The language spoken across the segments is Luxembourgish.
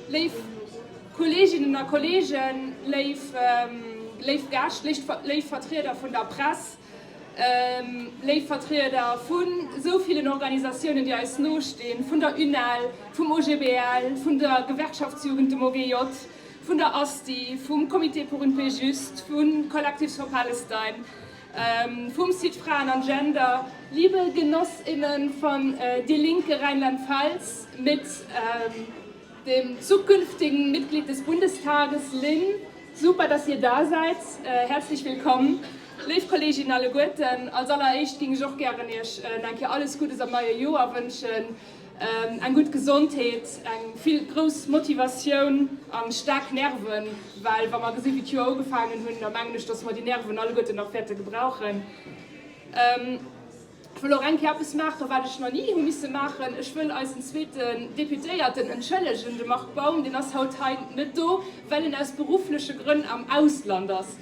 Léif Kolleeginnen a Kolleegen, léif Gäscht, léif Vertrieder vun der Press, léif Vertrieder vu sou villen Organisatiounen, déi eis nostinn, vun der UNEL, vum OGBL, vun der Gewerkschaftsjugend, dem OGJ, vun der ASTI, vum Comité pour une paix juste, vu Collectives for Palestine, Vum Site Fraen an Gender, Liebe Genoss innen von Die Linke Rheinland-Pfalz, mit dem zukünftigen Mitglied des Bundestages Lynn, super dass dir da seid, herzlich willkomm léif Kollegin alleguerten, als alleréischt ging ech och gären iech nach eng Kéier alles Guddes am neie Joer wënschen. Eng gutt Gesondheet, eng vill grouss Motivatioun a staark Nerven, well wa mer gesinn, wéi d'Joer ugefaangen hunn, da mengen ech, datt mer déi Nerven alleguerten nach wäerte gebrauchen. Ech wëll och eng Kéier eppes maachen, wat ech nach ni hu misse maachen, Ech wëll eisen zweeten Deputéierten entschëllegen, de Marc Baum. Deen ass haut hei net do, well en aus beruffleche Grënn am Ausland ass.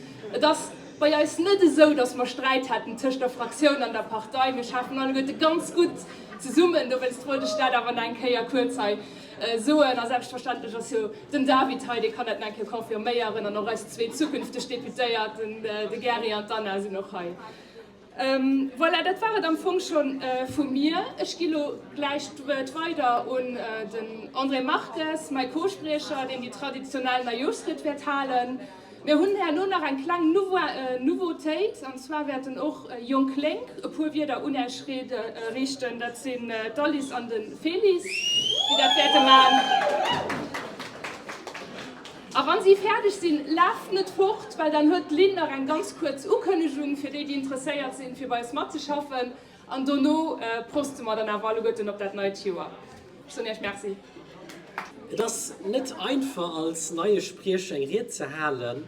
Bei eis net esou, dass mer Sträit hätten tëscht der Fraktioun an der Partei. Mir schaffen alleguerte ganz gutt zesummen. Dowéinst wollt ech dat awer nach eng Kéier kuerz hei soen. A selbstverständlech ass jo den David hei, dee kann dat nach eng Kéier confirméieren. An och eis zwee zukünfteg Deputéiert, de Gary an d'Anna, sinn och hei. Voilà, dat war et am Fong scho vu mir. Ech gi lo gläich d'Wuert weider un den André Marques, mäi Co-Spriecher, deen déi traditionell Neijooschried wäert halen. Mir hunn herno nach eng kleng Nouveautéit, an zwar wäerten och jonk Lénk e puer Wierder un Äech riichten. Dat sinn d'Alice an de Félix, déi dat wäerte maachen. A wann si fäerdeg sinn, laaft net fort, well dann huet d'Lynn nach eng ganz kuerz Ukënnegung fir déi, déi interesséiert sinn, fir bei eis matzeschaffen. An dono proste mer dann awer alleguerten op dat neit Joer. Ech soen Iech Merci. Et ass net einfach, als neie Spriecher eng Ried ze halen,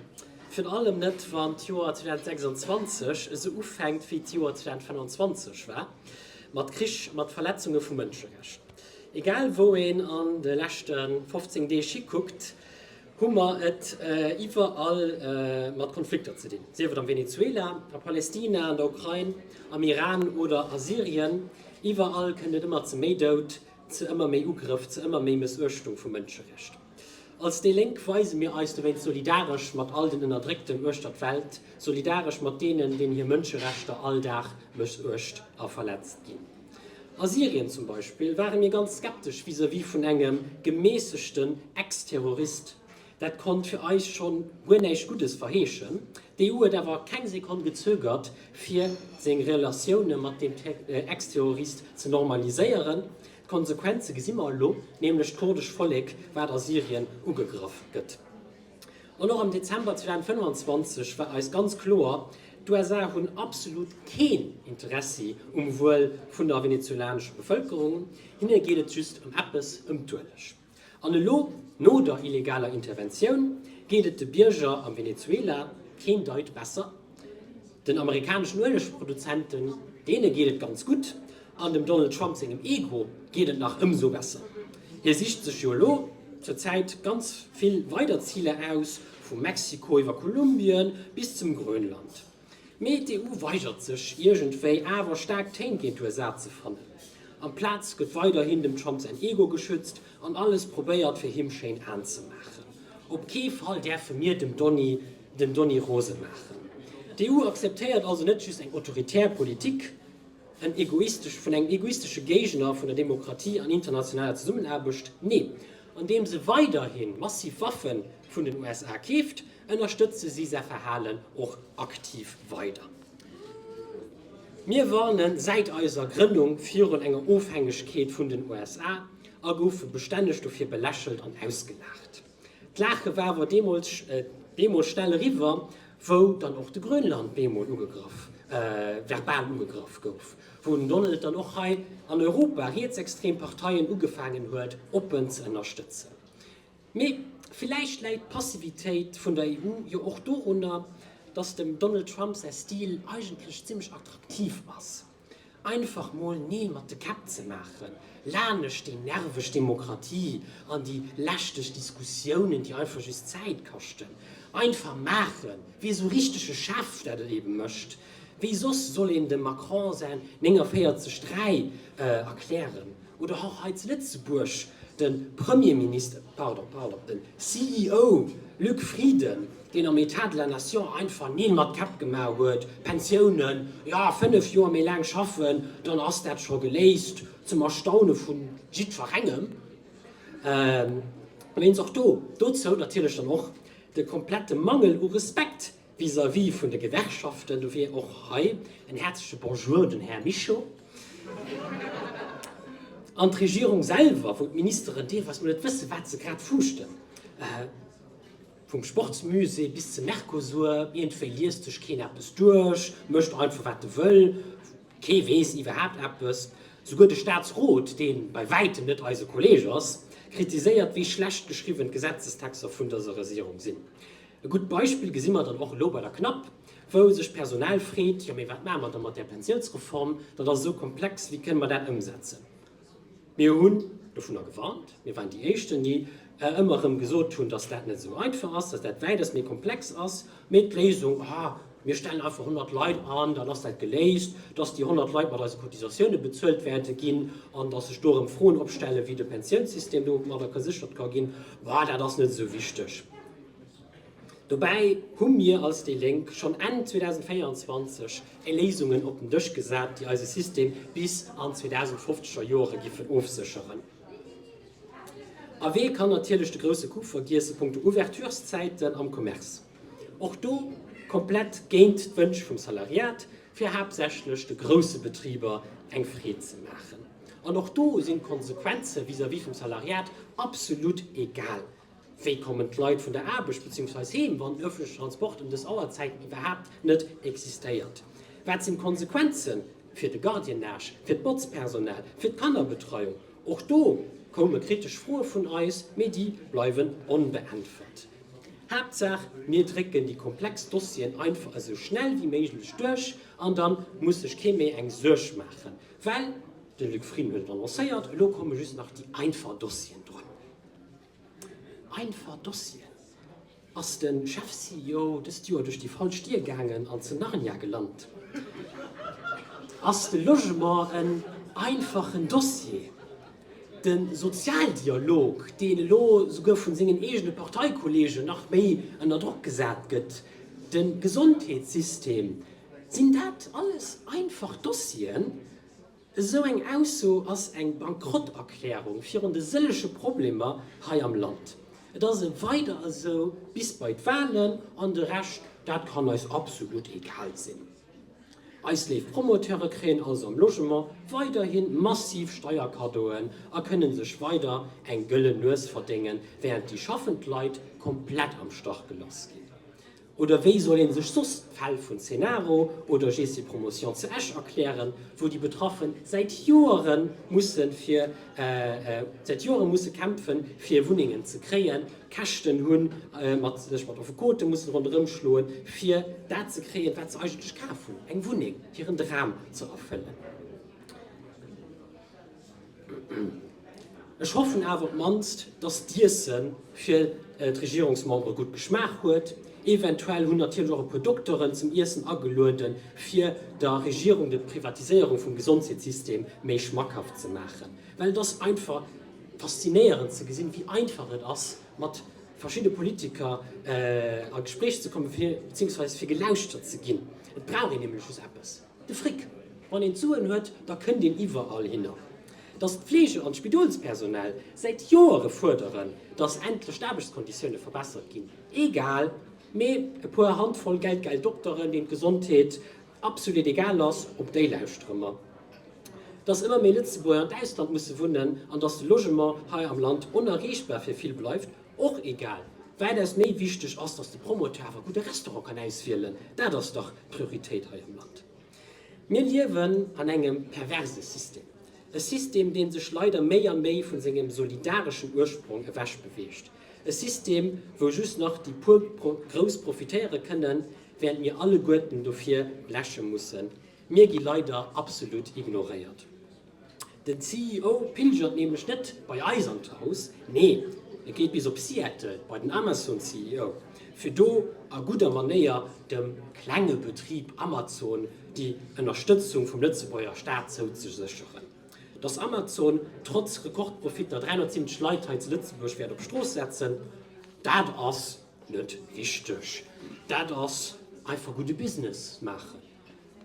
virun allem net, wann d'Joer 2026 esou ufänkt, wéi d'Joer 2025 war, mat Krich, mat Verletzunge vu Mënscherechter. Egal wou een an de leschte 15 Deeg hikuckt, hu mer et iwwerall mat Konflikter ze dinn. Sief et am Venezuela, a Palestina, an der Ukrain, am Iran oder a Syrien, iwwerall kënnt et ëmmer ze méi Doud, ze ëmmer méi Ugrëff, ze ëmmer méi Mëssuechtung vu Mënscherechter. Als déi Lénk weise mir eis dowéinst solidaresch mat all den Ënnerdréckten uechter d'Welt, solidaresch mat deenen, deenen hir Mënscherechter all Dag mëssuecht a verletzt ginn. A Syrien zum Beispill ware mir ganz skeptesch vis-à-vis vun engem gemässegten Ex-Terrorist. Dat konnt fir eis schonn guer näischt Guddes verheeschen. D'EU huet awer keng Sekonn gezögert, fir seng Relatioune mat deem Ex-Terrorist ze normaliséieren. D'Konsequenze gesi mer elo, nämlech d'kurdescht Vollek, wat a Syrien ugegraff gëtt. An och am Dezember 2025 war eis ganz kloer, D'USA hunn absolut keen Interessi um Wuel vun der venezuelanescher Bevëlkerung, hinne geet et just ëm eppes, ëm d'Ueleg. An elo, no der illegaler Interventioun, geet et de Bierger am Venezuela keen Deut besser. Den amerikaneschen Uelegproduzenten, deene geet et ganz gutt, an dem Donald Trump sengem Ego geet et nach ëmsou besser. Hie sicht sech jo elo zur Zäit ganz vill weider Ziler aus, vu Mexiko iwwer Kolumbien bis zum Grönland. Mee d'EU weigert sech iergendwéi awer staark Téin géint d'USA ze fannen. Amplaz gëtt weiderhin dem Trump säin Ego geschützt an alles probéiert fir him schéin aanzemaachen. Op kee Fall däerfe mir dem Donny den Donny rose maachen. D'EU akzeptéiert also net just eng autoritär Politik en egoistesch vun engem egoistesche Géigner vun der Demokratie an internationaler Zesummenaarbecht, nee, andeem se weiderhin massiv Waffe vun den USA keeft, Ënnerstëtze si säi Verhalen och aktiv weider. Mir warne säit eiser Grënnung virun enger Ofhängegkeet vun den USA a goufe bestänneg dofir belächelt an ausgelaacht. D'Laache war awer bemol schnell eriwwer, wou dann och de Grönland bemol ugegraff, verbal ugegraff gouf, wou den Donald dann och hei an Europa rietsextrem Parteien ugefaangen huet oppen ze ënnerstëtzen. Mee villäicht läit d'Passivitéit vun der EU jo och dorunner, datt dem Donald Trump säi Stil eigentlech zimmlech attraktiv ass, einfach mol Nee mat de Käpp ze maachen, lanescht déi nerveg Demokratie an déi lästeg Diskussiounen, déi einfach just Zäit kaschten. Einfach maachen, wéi esou richtege Chef dat et eben mécht. Wéi soss soll een dem Macron säin 49 3 erklären? Oder och hei zu Lëtzebuerg de Premierminister, pardon, pardon, den CEO Luc Frieden, deen am Etat de la Nation einfach Neen mat Käpp gemaach huet, Pensiounen, jo, 5 Joer méi laang schaffen, dann ass dat scho geléist, zum Erstaune vu jiddwerengem. Mee een soss do, dozou natierlech dann och de komplette Mangel u Respekt Vis-à-vis vun de Gewerkschaften, dofir och hei en häerzleche Bonjour, den Här Mischo. An d'Regierung selwer, wou d'Ministeren deelweis mol net wëssen, wat se grad fuuschten, vum Sportsmusée bis zum Mercosur, iergendwéi liest sech keen eppes duerch, mécht einfach, wat e wëll, kee weess iwwerhaapt eppes. Souguer de Staatsrot, dee bei wäitem net eise Kolleeg ass, kritiséiert, wéi schlecht geschriwwen d'Gesetzestexter vun dëser Regierung sinn. E gutt Beispill gesi mer dann och elo bei der CNAP, wou sech d'Personal freet, Jo, mee wat maache mer da mat där Pensiounsreform? Dat ass esou komplex, wéi kënne mer dat ëmsetzen? Mir hunn dovunner gewarnt, mir waren déi Éischten, déi ëmmer erëm gesot hunn, dass dat net esou einfach ass, dass dat wäitest méi komplex ass. Mee d'Léisung, Ah, mir stellen einfach 100 Leit an, dann ass dat geléist. Dass déi 100 Leit mat eise Cotisatiounen bezuelt wäerte ginn an dass sech do erëm Froen opstellen, wéi de Pensiounssystem domadder geséchert ka ginn, bah, dat ass net esou wichteg. Dobäi hu mir als déi Lénk schonn Enn 2024 Léisungen op den Dësch gesat, déi eise System bis an d'zweedausendfofzeger Joere giffen ofsécheren. A wee kann natierlech de grousse Coup vergiessen, Punkto Ouverturszäiten am Commerce. Och do komplett géint d'Wënsch vum Salariat, fir haaptsächlech de grousse Betriber eng Freed ze maachen. An och do sinn d'Konsequenze vis-à-vis vum Salariat absolut egal. Wéi kommen d'Leit vun der Aarbecht beziehungsweise heem, wann öffentliche Transport ëm dës Auerzäiten iwwerhaapt net existéiert? Wat sinn d'Konsequenzen fir de Gardiennage, fir d'Botzpersonal, fir d'Kannerbetreiung? Och do koume kritesch Froe vun eis, mee déi bleiwen onbeäntwert. Haaptsaach mir drécken déi komplex Dossieren einfach esou schnell wéi méiglech duerch an da muss sech kee méi eng Suerg maachen, well, de Luc Frieden huet et annoncéiert, elo komme just nach déi einfach Dossieren drun. Einfach Dossieren. Ass de Chef-CEO dëst Joer duerch déi falsch Dier gaangen an zu Narnia gelant? Ass de Logement en einfachen Dossier? De Sozialdialog, deen elo souguer vun sengen eegene Parteikollegen nach méi ënner Drock gesat gëtt, de Gesondheetssystem, sinn dat alles einfach Dossieren? Esou eng Ausso ass eng Bankrotterklärung virun de sëllege Problemer hei am Land. Et ass e weider esou bis bei d'Wahlen an de Rescht, dat kann eis absolut egal sinn. Eis léif Promoteure kréien also am Logement weiderhi massiv Steierkaddoen a kënnen sech weider eng gëllen Nues verdéngen, während déi schaffend Leit komplett am Stach gelass ginn. Oder wéi soll ee sech soss d'Fäll vun Cenaro oder Gessi Promotion zu Esch erklären, wou déi Betraffe säit Joere musse kämpfen, fir Wunnengen ze kréien, Käschten hunn, sech mat Affekote mussen ronderëmschloen, fir dat ze kréien, wat se eigentlech kaf hunn, eng Wunneng, hiren Dram ze erfëllen? Ech hoffen awer op d'mannst, dass d'Iesse fir d'Regierungsmembere gutt geschmaacht huet. Eventuell hunn natierlech och e puer Dokteren zum Iessen agelueden, fir der Regierung de Privatiséierung vum Gesondheetssystem méi schmackhaft ze maachen. Well et ass einfach faszinéierend ze gesinn, wéi einfach et ass, mat verschidde Politiker a Gespréich ze kommen, beziehungsweise fir gelauschtert ze ginn. Et brauch een nämlech just eppes. De Fric, Wann een d'Suen huet, da kënnt een iwwerall hinner. Datt d'Pflege an d'Spidolspersonal säit Joere fuerderen, datt endlech d'Aarbechtskonditioune verbessert ginn, egal, mee e puer Handvoll geldgeil Dokteren, deenen d'Gesondheet absolut egal ass, op déi lauschtere mer. Datt ëmmer méi Lëtzebuerger an d'Ausland musse wunnen an datt de Logement hei am Land onerreechbar fir vill bleift. Och egal wäit ass, méi wichteg ass, dass de Promoteur awer e gudde Restaurant kann auswielen. Dat ass dach d'Prioritéit hei am Land. Mir liewen an engem perverse System, e System, dee sech leider méi a méi vu sengem solidareschen Ursprong ewech beweegt, e System, wou just nach déi puer Grouss profitéiere kënnen, während mir alleguerten dofir bleche mussen. Mir gi leider absolut ignoréiert. Den CEO pilgert nämlech net bei eis an d'Haus, nee e geet bis op Seattle bei den Amazon-CEO, fir do a gudder Manéier dem klenge Betrib Amazon déi Ënnerstëtzung vum Lëtzebuerger Staat zouzesécheren, dass Amazon trotz Rekordprofitter 370 Leit hei zu Lëtzebuerg wäert op d'Strooss setzen. Dat ass net wichteg, dat ass einfach gudde Business maachen.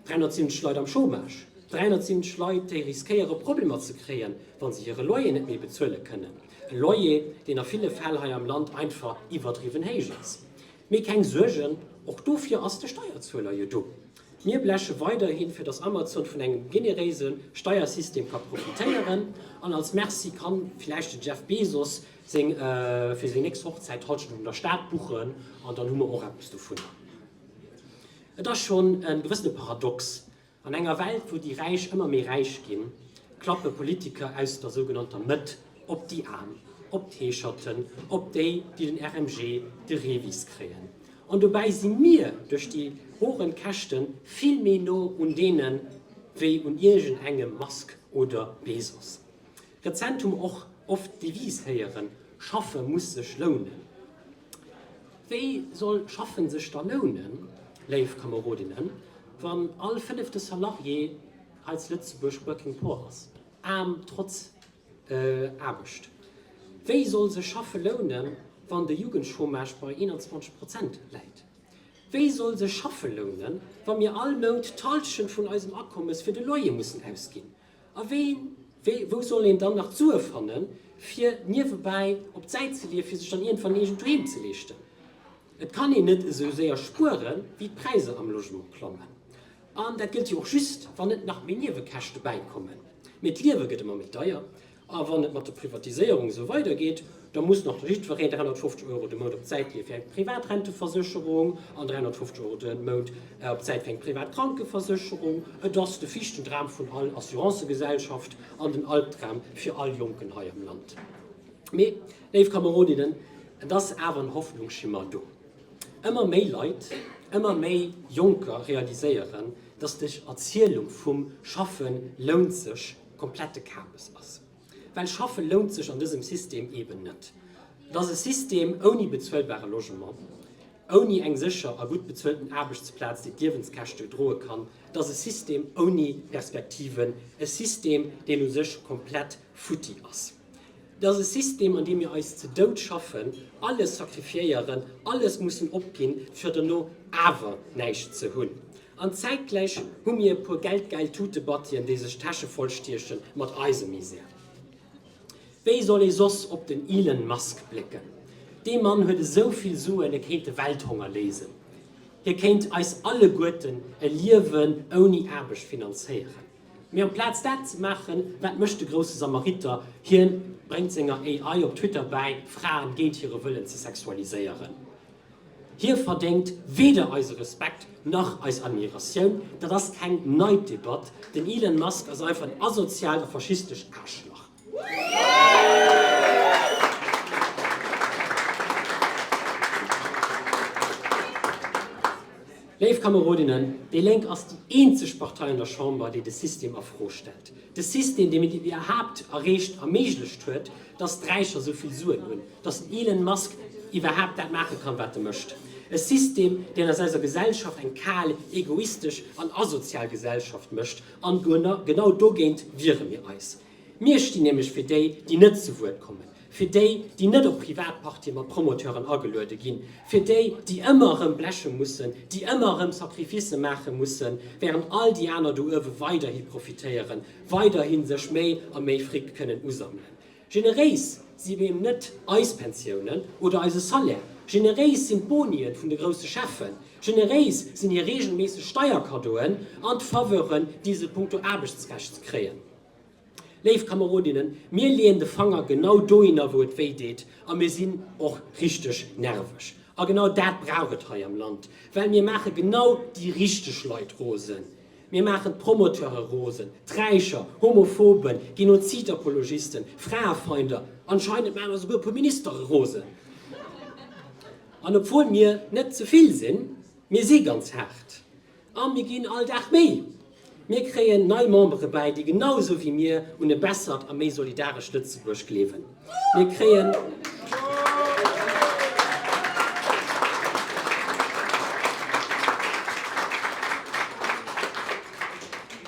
370 Leit am Chômage, 370 Leit, déi riskéiere Problemer ze kréien, wa se hire Loyer net méi bezuele kënnen. E Loyer, deen a ville Fäll hei am Land einfach iwwerdriwwen héich ass. Mee keng Suergen, och dofir ass de Steierzueler jo do. Mir bleche weiderhi fir datt Amazon vun engem generéise Steiersystem ka profitéieren an als Merci ka villäicht de Jeff Bezos seng fir seng nächst Hochzäit Hallschent un der Stad buchen an dann hu mer och eppes dovunner. Et ass schonn e gewëssene Paradox, An enger Welt, wou déi Räich ëmmer méi räich ginn, klappe Politiker aus der sougenannter Mëtt op déi Aarm, op d'Heescherten, op déi, déi den RMG, de Revis kréien. An dobäi si mir duerch déi horen Käschte vill méi no un deene wéi un iergend engem Musk oder Bezos. Rezent hu mer och oft d'Devise héieren, Schaffe muss sech lounen. Wéi soll Schaffen sech da lounen, léif Kamerodinnen, wann all fënnefte Salarié hei zu Lëtzebuerg working poor ass, aarm trotz Aarbecht? Wéi soll sech Schaffe lounen, wann de Jugendchômage bei 21 Prozent läit? Wéi soll sech Schaffe lounen, wa mir all Mount d'Hallschent vun eisem Akommes fir de Loyer mussen ausginn? A wéi, wéi, wou soll een dann nach d'Sue fannen, fir niewebäi op d'Säit ze leeë fir sech dann iergendwann eegent Doheem ze leeschten? Et kann een net esou séier spuere wéi d'Präisser am Logement klommen. An dat gëllt jo och just, wann net nach méi Niewekäschte bäikommen. Mee d'Liewe gëtt ëmmer méi deier. A wann et mat der Privatiséierung esou weidergeet, Da muss nach jiddwereen 350 Euro de Mount op d'Säit leeë fir eng privat Renteversécherung an 350 Euro de Mount op d'Säit fir eng privat Krankeversécherung. Et ass de Fiichtendram vun all Assurancëgesellschaft an den Albdram fir all Jonken hei am Land. Mee, léif Kamerodinnen, et ass awer en Hoffnungsschimmer do. Ëmmer méi Leit, ëmmer méi Jonker realiséieren, dass dës Erzielung vum Schaffe lount sech komplette Kabes ass. Well schaffe lount sech an dësem System eben net. Et ass e System ouni bezuelbare Logement, ouni eng sécher a gutt bezuelten Aarbechtsplaz, déi d'Liewenskäschte droe kann. Et ass e System ouni Perspektiven, e System, deen u sech komplett futti ass. Et ass e System, an deem mir eis ze Dout schaffen, alles sacrifiéieren, alles mussen opginn, fir dono awer näischt ze hunn. An zäitgläich hu mir e puer geldgäil Tutebattien, déi sech d'Täsche voll stieche mat eise Misär. Wéi soll ee soss op den Elon Musk blécken? Dee Mann huet esou vill Suen, e kéint de Welthonger léisen. Hie kéint eis alleguerten e Liewen ouni Aarbecht finanzéieren. Mee amplaz dat ze maachen, wat mécht de grousse Samariter? Hien bréngt senger AI op Twitter bäi, Fraen géint hire Wëllen ze sexualiséieren. Hie verdéngt weder eise Respekt nach eis Admiratioun. Dat ass keng nei Debatt. Den Elon Musk ass einfach en asoziaalt a faschistescht Aarschlach. Léif Kamerodinnen, déi Lénk ass déi eenzeg Partei an der Chamber, déi de System a Fro stellt. De System, dee mir iwwerhaapt erreecht a méiglecht huet, dass d'Räicher esou vill Suen hunn. dass den Elon Musk iwwerhaapt dat maache kann, wat e mécht, e System, deen aus eiser Gesellschaft eng kal, egoistesch an asozial Gesellschaft mécht. An genau dogéint wiere mir eis. Mir stinn nämlech fir déi, déi net zu Wuert kommen, fir déi, déi net op privat Partye mat Promoteuren ageluede ginn, fir déi, déi ëmmer erëm bleche mussen, déi ëmmer erëm Sacrificë maache mussen, während all déi aner do uewe weiderhi profitéieren, weiderhi sech méi a méi Fric kënnen usammelen. Generéis si mir eben net eis Pensiounen oder eise Salaire. Generéis sinn d'Bonien vun de grousse Cheffen. Generéis sinn hir reegelméisseg Steierkaddoen an d'Faveuren, déi se punkto Aarbechtsrecht kréien. Léif Kamerodinnen, mir leeën de Fanger genau dohinner, wou et wéi deet, a mir sinn och richteg nerveg. A genau dat brauch et hei am Land, well mir maache genau déi richteg Leit rosen. Mir maachen d'Promoteure rosen, d'Räicher, Homophoben, Genozidapologisten, Fraefeinder, anscheinend maache mer souguer e puer Ministere rosen. An obwuel mir net ze vill sinn, mir si ganz haart a mir ginn all Dag méi. Mir kréien nei Membere bäi, déi genau esou wéi mir un e bessert a méi solidarescht Lëtzebuerg gleewen.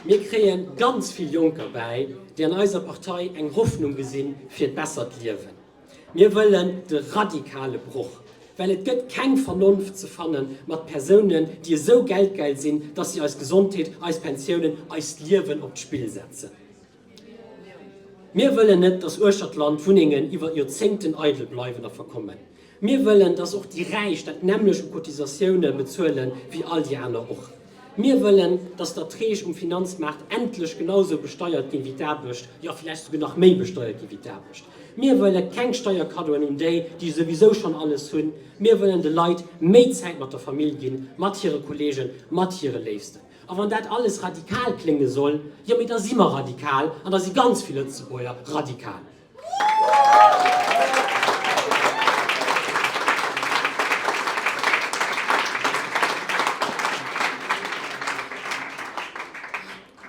Mir kréien ganz vill Jonker bäi, déi an eiser Partei eng Hoffnung gesi fir e bessert Liewen. Mir wëllen de radikale Broch, well et gëtt keng Vernonft ze fanne mat Persounen, déi esou geldgeil sinn, datt si eis Gesondheet, eis Pensiounen, eist Liewen op d'Spill setzen. Mir wëllen net, dass uechter d'Land Wunnengen iwwer Joerzéngten eidel bleiwen a verkommen. Mir wëllen, dass och déi Räich dat nämmlecht u Cotisatioune bezuele wéi all déi aner och. Mir wëllen, dass d'Erträg um Finanzmaart endlech genausou besteiert ginn wéi d'Aarbecht, jo vläicht souguer nach méi besteiert ginn wéi d'Aarbecht. Mir wëlle keng Steierkaddoen un déi, déi souwisou schonn alles hunn. Mir wëllen de Leit méi Zäit mat der Famill ginn, mat hire Kolleegen, mat hire Léifsten. A wann dat alles radikal klénge soll, jo mee da si mer radikal an da si ganz vill Lëtzebuerger radikal.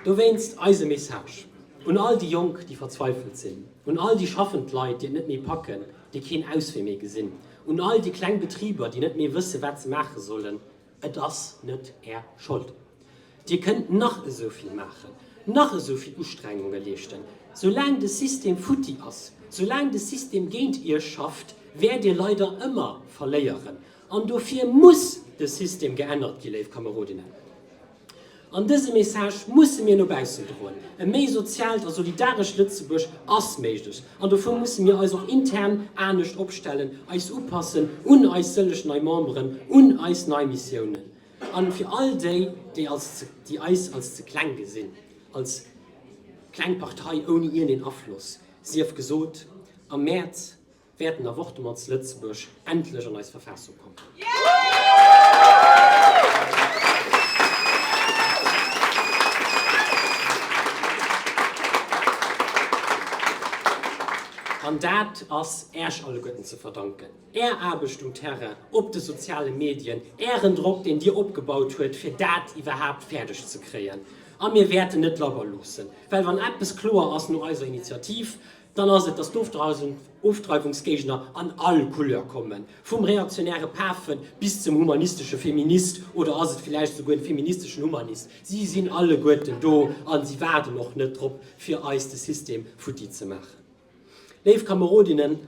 Dowéinst eise Message un all déi Jonk, déi verzweifelt sinn, un all déi schaffend Leit, déi et net méi packen, déi keen Auswee méi gesinn, un all déi kleng Betriber, déi net méi wësse wat se maache sollen, Et ass net Är Schold. Dir kënnt nach esou vill maachen, nach esou vill Ustrengunge leeschten, soulaang de System futti ass, soulaang de System géint Iech schafft, wäert Dir leider ëmmer verléieren. An dofir muss de System geännert ginn, léif Kamerodinnen. An dëse Message musse mir no baussen droen. E méi soziaalt a solidarescht Lëtzebuerg ass méiglech. An dofir musse mir eis och intern anescht opstellen, eis upassen un eis sëlleg nei Memberen, un eis nei Missiounen. A fir all déi, déi eis als ze kleng gesinn, als kleng Partei ouni iergendeen Afloss, sief gesot am Mäerz, wäerten d'Avortement zu Lëtzebuerg endlech an eis Verfaassung kommen. An dat ass Äerch alleguerten ze verdanken, Är Aarbecht um Terrain, op de soziale Medien, Ären Drock, deen Dir opgebaut huet, fir dat iwwerhaapt fäerdeg ze kréien. A mir wäerten net labber loossen, well wann eppes kloer ass no eiser Initiativ, Dann ass et, dass d'Ofdreiwungsgéigner an all Couleur kommen, vum reaktionäre Pafe bis zum humanistesche Feminist, oder ass et villäicht esouguer en feministeschen Humanist? Si sinn alleguerten do a si waarden och net drop, fir eis de System futti ze maachen. Léif Kamerodinnen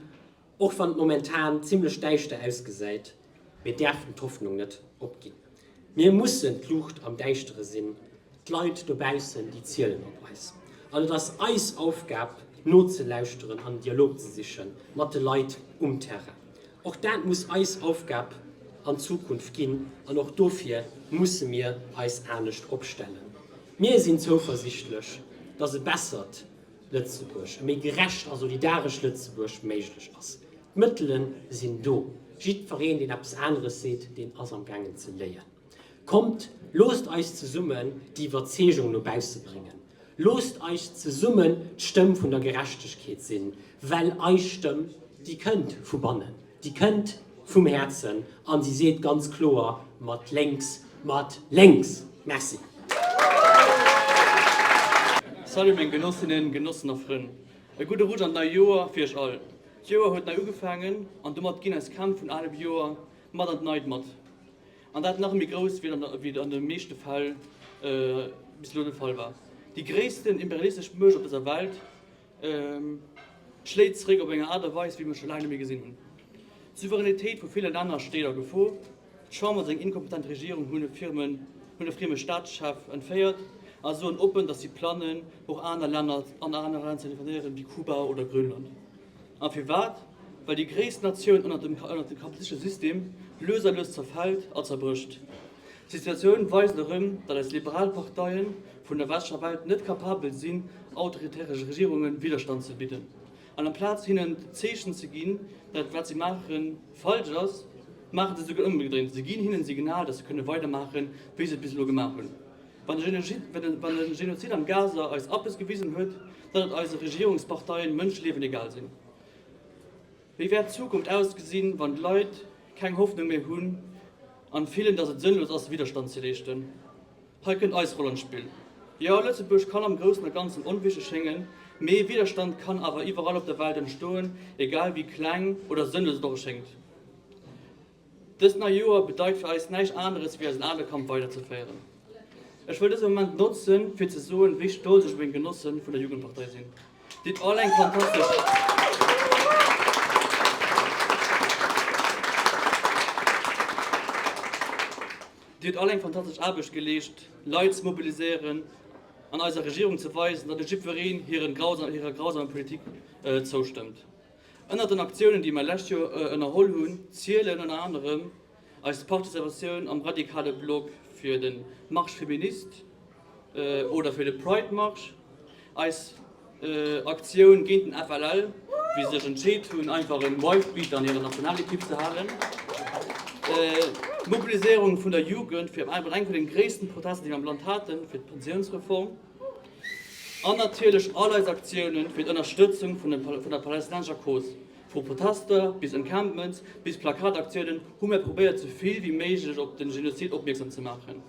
Och wann et momentan zimlech däischter ausgesäit, mir däerfen d'Hoffnung net opginn. Mir mussen d'Luucht am Däischtere sinn, d'Leit dobaussen déi zielen op eis. An et ass eis Aufgab nozelauschteren an Dialog ze siche mat de Leit um Terrain. Och dat muss eis Aufgab an Zukunft ginn an och dofir musse mir eis anescht opstellen. Mir sinn zouversichtlech, datt e bessert. Lëtzebuerg, e méi gerecht a solidaresch Lëtzebuerg méiglech ass. D'Mëttele sinn do. Jiddwereen, deen eppes aneres seet, deen ass am gaangen ze léien. Kommt, loosst eis zesummen déi Iwwerzeegung no bausse bréngen. Loosst eis zesummen d'Stëmm vun der Gerechtegkeet sinn, well eis Stëmm, déi kënnt vu bannen. Déi kënnt vum Häerzen an si seet ganz kloer, Mat lénks, mat lénks! Merci. Salut meng Genossinnen, Genossen a Frënn. E gudde Rutsch an d'nei Joer fir iech all. D'Joer huet nei ugefaangen an domat ginn eis Krämp vun alem Joer mat an d'neit mat. An dat nach méi grouss wéi et wéi et an de meeschte Fäll bis elo de Fall war. Déi gréissten imperialistesch Muecht op dëser Welt Schléit zeréck op eng Aart a Weis, wéi mir scho laang net méi gesinn hunn. D'Souveränitéit vu ville Länner steet a Gefor. D'Chamber, seng inkompetent Regierung hunn e frieme Staatschef entféiert a soen oppen, datt si planen, och aner Länner an aner Länner ze intervenéieren, wéi Kuba oder Grönland. A firwat? Well déi gréisst Natioun ënnert dem kapitalistesche System lues a lues zerfält a zerbrécht. D'Situatioun weist erëm, datt eis liberal Parteie vun der westlecher Welt net kapabel sinn, autoritäre Regierunge Widderstand ze bidden an amplaz hinnen d'Zeechen ze ginn, datt wat si maache falsch ass, maache se esouguer ëmgedréint, se ginn hinnen d'Signal, datt se kënne weidermaache wéi se et bis elo gemaach hunn. Wann de Genozid am Gaza eis eppes gewisen huet, datt eise Regierungsparteien Mënscheliewen egal sinn. Wéi wäert d'Zukunft ausgesinn, wann d'Leit keng Hoffnung méi hunn an fillen, dass et sënnlos ass Widerstand ze leeschten? Hei kënnt eis Roll an d'Spill. Jo, Lëtzebuerg kann am Groussen a Ganzen onwichteg schéngen, mee Widerstand kann awer iwwerall op der Welt entstoen, egal wéi kleng oder sënnlos et och erschéngt. Dëst nei Joer bedeit fir eis näischt aneres ewéi eisen ale Kampf weider ze féieren. Ech wëll dëse Moment notzen fir ze soen wéi stolz ech op meng Genossen vun der Jugendpartei sinn. Dir hutt all eng fantastesch Aarbecht geleescht, Leit ze mobiliséieren an eiser Regierung ze weisen, datt net jiddwereen hirer grausamer Politik zoustëmmt. Ënnert den Aktiounen, déi mer lescht Joer ënnerholl hunn, zielen ënner anerem eis Participatioun am radikale Blog fir de Marche féministe oder fir de Pride Marsch, eis Aktioun géint den FLL, wéi se sech entscheet hunn, einfach en Wife-Beater an hirer Nationalekipp ze halen, d'Mobiliséierung vun der Jugend fir eng vun de gréissten Protester, déi mer am Land haten, fir d'Pensiounsreform. An natierlech all eis Aktiounen fir d'Ënnerstëtzung vun der palestinenscher Cause. Vu Protester bis Encampments bis Plakataktiounen hu mir probéiert sou vill wéi méiglech op den Genozid opmierksam ze maachen.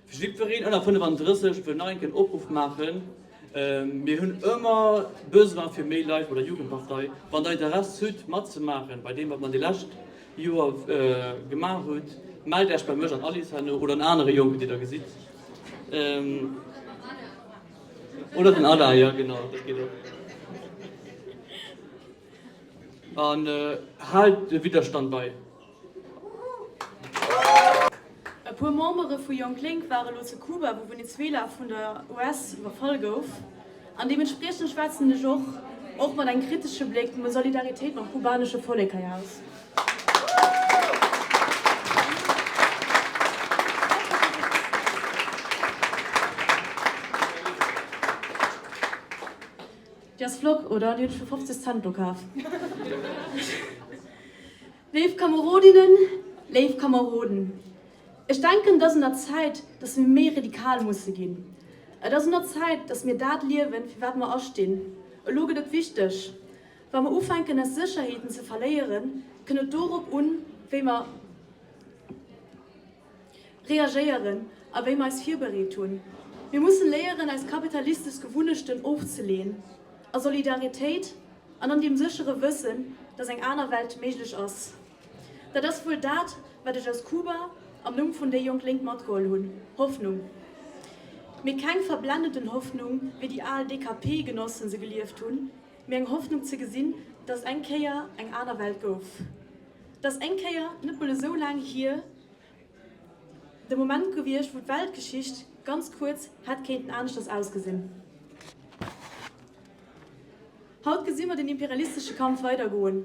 Fir jiddwereen ënner 35 wëll nach eng Kéier en Opruff maachen, mir hunn ëmmer Besoin fir méi Leit bei der Jugendpartei. Wann der Interesse hutt matzemaachen bei deem wat mer déi lescht Joer gemaach hunn, mellt Äech bei mech an Alice herno oder an anere Jonken déi der gesitt. Oder den Ada, jo genau, dat geet och. An haalt de Widderstand bei. E puer Membere vu Jonglënk ware lo ze Kuba, wou Venezuela vun der US iwwerfall gouf. An deementspriechend schwätzen ech och, och mat engem kritesche Bléck, vu Solidaritéit mam kubanesche Vollek hei aus. Déi ass flott, oder? Déi hunn ech fir 50 Cent do kaf. Léif Kamerodinnen, léif Kameroden, Ech denken, et ass un der Zäit, dass mir méi radikal musse ginn. Et ass un der Zäit, dass mir dat liewen, fir wat mer astinn. Elo gëtt et wichteg. Wa mer ufänken, eis Sécherheeten ze verléieren, kënn et dorop un, wéi mer reagéieren a wéi mer eis virbereet hunn. Mir mussen léieren, eis kapitalistesch Gewunnechten ofzeleeën a Solidaritéit an an deem séchere Wëssen, dass eng aner Welt méiglech ass. Dat ass wuel dat, wat ech aus Kuba am Numm vun déi jonk Lénk matgeholl hunn, Hoffnung. Mee keng verblennenden Hoffnung, wéi déi al DKP-Genossen se gelieft hunn, mee eng Hoffnung ze gesinn, dass eng Kéier eng aner Welt gouf, dass eng Kéier, net mol esou laang hier, de Moment gewiescht, wou d'Weltgeschicht ganz kuerz hätt kéinten aneschters ausgesinn. Haut gesi mer den imperialistesche Kampf weidergoen,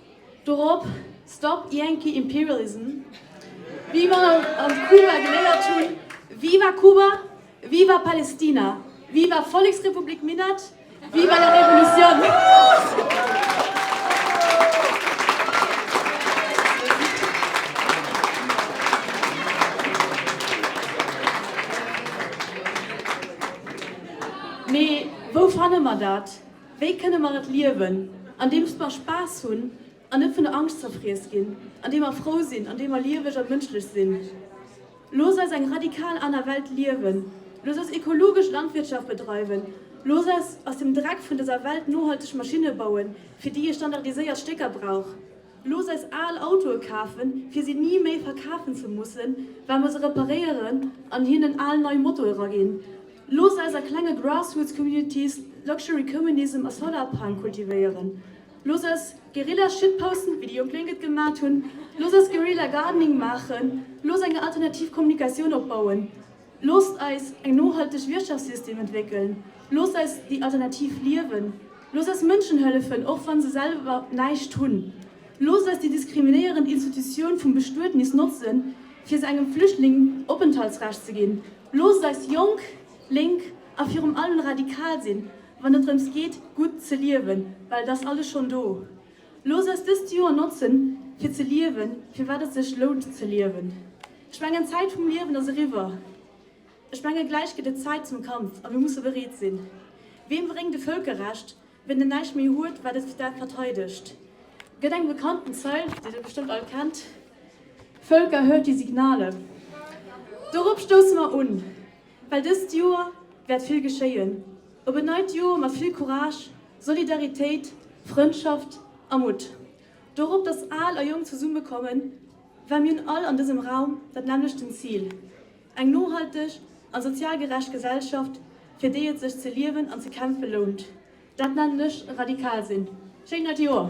Dorop Stop Yankee Imperialism, wéi mer an Kuba geléiert hunn, Viva Cuba, Viva Palestina, Viva Volleksrepublik Minett, Viva la Revolución! Mee wou fanne mer dat? Wéi kënne mer et liewen? Andeems mer Spaass hunn an net vun der Angscht zerfriess ginn, andeem mer frou sinn, andeem mer lieweg a mënschlech sinn. Looss eis eng radikal aner Welt liewen, looss eis ekologesch Landwirtschaft bedreiwen, looss eis aus dem Dreck vun dëser Welt nohalteg Maschinne bauen, fir déi ee standardiséiert Stécker brauch. Looss eis al Autoe kafen, fir si ni méi verkafen ze mussen, well mer se reparéieren an hinnen al nei Motoe raginn. Looss eis a klenge Grassroots Communities Luxury Communism a Solar Punk kultivéieren. Looss eis Guerilla Shitposten, wéi déi jonk Lénk et gemat hunn. Looss eis Guerilla Gardening maachen. Looss eng alternativ Kommunikatioun opbauen. Loosst eis eng nohalteg Wirtschaftssystem entwéckelen, loosst eis déi Alternativ liewen, loosst eis Mënschen hëllefen, och wann se selwer näischt hunn, loosst eis déi diskriminéierend Institutioun vum Bestuednis notzen, fir se engem Flüchtling Openthaltsrecht ze ginn, loosst eis jonk, lénk a virum allem radikal sinn, wann et drëms geet, gutt ze liewen, well et ass alles schonn do. Looss eis dëst Joer notzen, fir ze liewen, fir wat et sech lount ze liewen. Ech mengen, d'Zäit vum Liewen ass eriwwer. Ech menge gläich gëtt et Zäit zum Kampf a mir musse bereet sinn. Ween bréngt e Vëlkerrecht, ween en näischt méi huet, wat et dat verteidegt? Gëtt eng bekannten Zeil, déi Der bestëmmt all kennt, Völker, hört die Signale! Dorop stousse mer un. Well dëst Joer wäert vill geschéien. Op en neit Joer mat vill Courage, Solidaritéit, Frëndschaft a Mutt. Dorop, dass Al a Jonk zesumme kommen, well mir hunn all an dësem Raum dat nämmlechten Zil, eng nohalteg an sozial gerecht Gesellschaft, fir déi et sech ze liewen an ze kämpfe lount. Dat nennen ech radikal sinn. Schéin neit Joer!